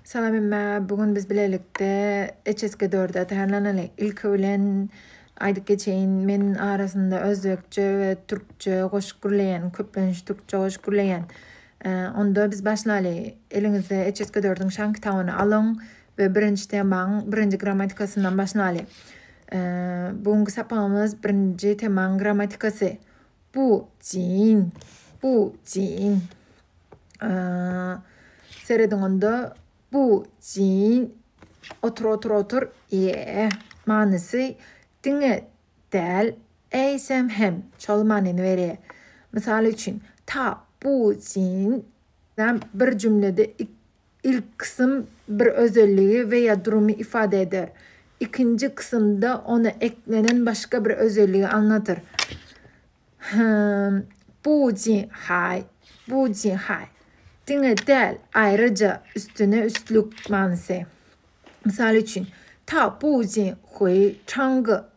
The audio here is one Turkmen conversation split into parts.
Salam hemmä bu gün biz bilelikde HSG dörde atarlanaly. Ilki bilen aýdyp geçeýin, men arasynda özbekçe we türkçe goşuk gürleýän, köplenç türkçe goşuk gürleýän. Onda biz başlaly. Eliňizde HSG dördüň şan kitabyny alyň we birinji temaň birinji grammatikasyndan başlaly. Bu günki sapagymyz birinji temaň grammatikasy. bu jin, bu jin. Serediň onda bu jin otur otur otur. E manysy diňe däl, eýsem hem şol manyny berýär. Mysal üçin, ta bu jin bir jümlede Ilki kysym bir özelligi we ýa durumy ifade eder. Ikinji kysymda ona eklenen başga bir özelligi aňladyr. Hym, bu jin haý, bu jin haý. Diňe däl, aýryja, üstüne üstlük manysy. Mysal üçin, ta bu jin huý, çangy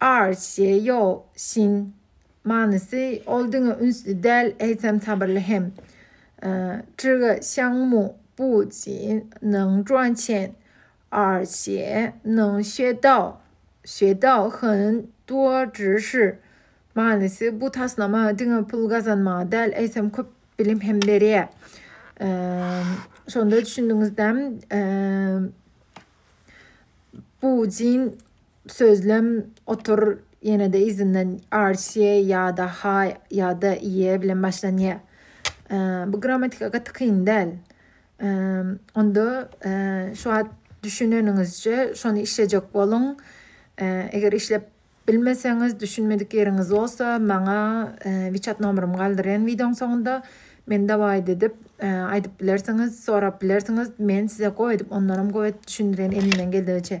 Ar, şe, ýo, şin. Manysy, Ol diňe ünsli däl, eýsem sabyrly hem. Zhiga xiang mu bu ji neng zhuan qian, er xie neng xue dao, xue dao hen duo zhi shi. Manysy, Bu taslama diňe pul gazanmaga däl, eýsem köp bilim hem berýär. Şonda düşündiňizdämi? Bu jin Sözlem otur ýenede yzyndan RCA ýada ha ýada ie bilen başlanýa. Bu grammatika gaty kyn däl. Onda şu wagt düşüneniňizçe şony işlejek boluň. Eger işlep bilmeseňiz, düşünmedik ýeriňiz bolsa, maňa WeChat nomerymy galdyrýan wideoň soňunda. Men dowait edip aýdyp bilersiňiz, sorap bilersiňiz. Men size gowy edip, ondanam gowy edip düşündirýän elimden geldigiçe.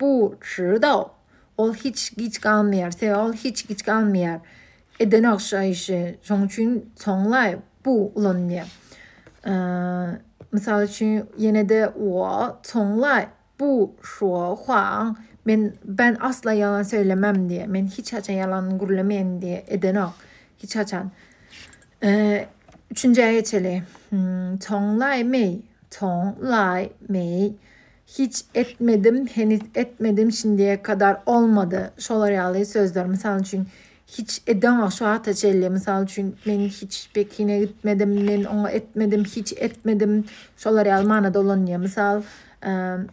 Bu şyr-daw. Ol hiç giç galmaýar, sebäbi ol hiç giç galmaýar. Edenok şa işi, şoň üçin soňlaý, bu ulanylýar. Mysal üçin, ýene-de wo, soňlaý, bu şwo, hwaň, men, ben asla ýalan söýlemem diýýär. Men hiç haçan ýalan gürlemeýän diýýär. Edenok. Hiç haçan. Üçünjä geçeli. Soňlaý, meý. Soňlaý, meý. Hiç etmedim, heniz etmedim, şindiye kadar olmadı. Şolar ýaly sözler. Mysal üçin, hiç edeňok şu wagta çenli. Mysal üçin, men hiç Pekine gitmedim, men oňa etmedim, hiç etmedim. Şolar ýaly manada ulanylýar. Mysal,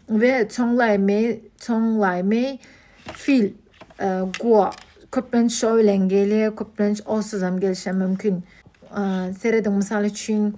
we çoňlaýmy, çoňlaýmy fil gua. Köplenç şo bilen gelýär, köplenç osuzam gelşe mümkin. Serediň, mysal üçin,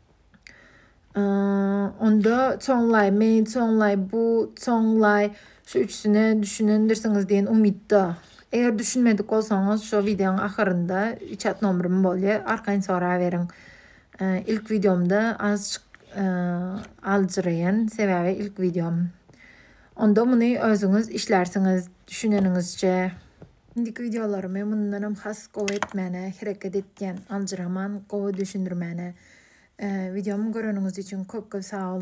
Onda Çonlay, Meýin Çonlay, bu Çonlay şu üçüne düşünendirsiňiz diýen umytda. Eger düşünmedik bolsaňyz şu wideonyň ahyrynda çat nomerym bolýar. Arkaýyn soraberiň. Ilk wideomda azajyk aljyraýan, sebäbi ilk wideom. Onda muny özüňiz işlärsiňiz düşüneniňizçe. Indiki wideolarymy mundanam has gowy etmäne hereket etýän aljyraman gowy düşündirmäne wideomy göreniňiz üçin köp köp sag boluň.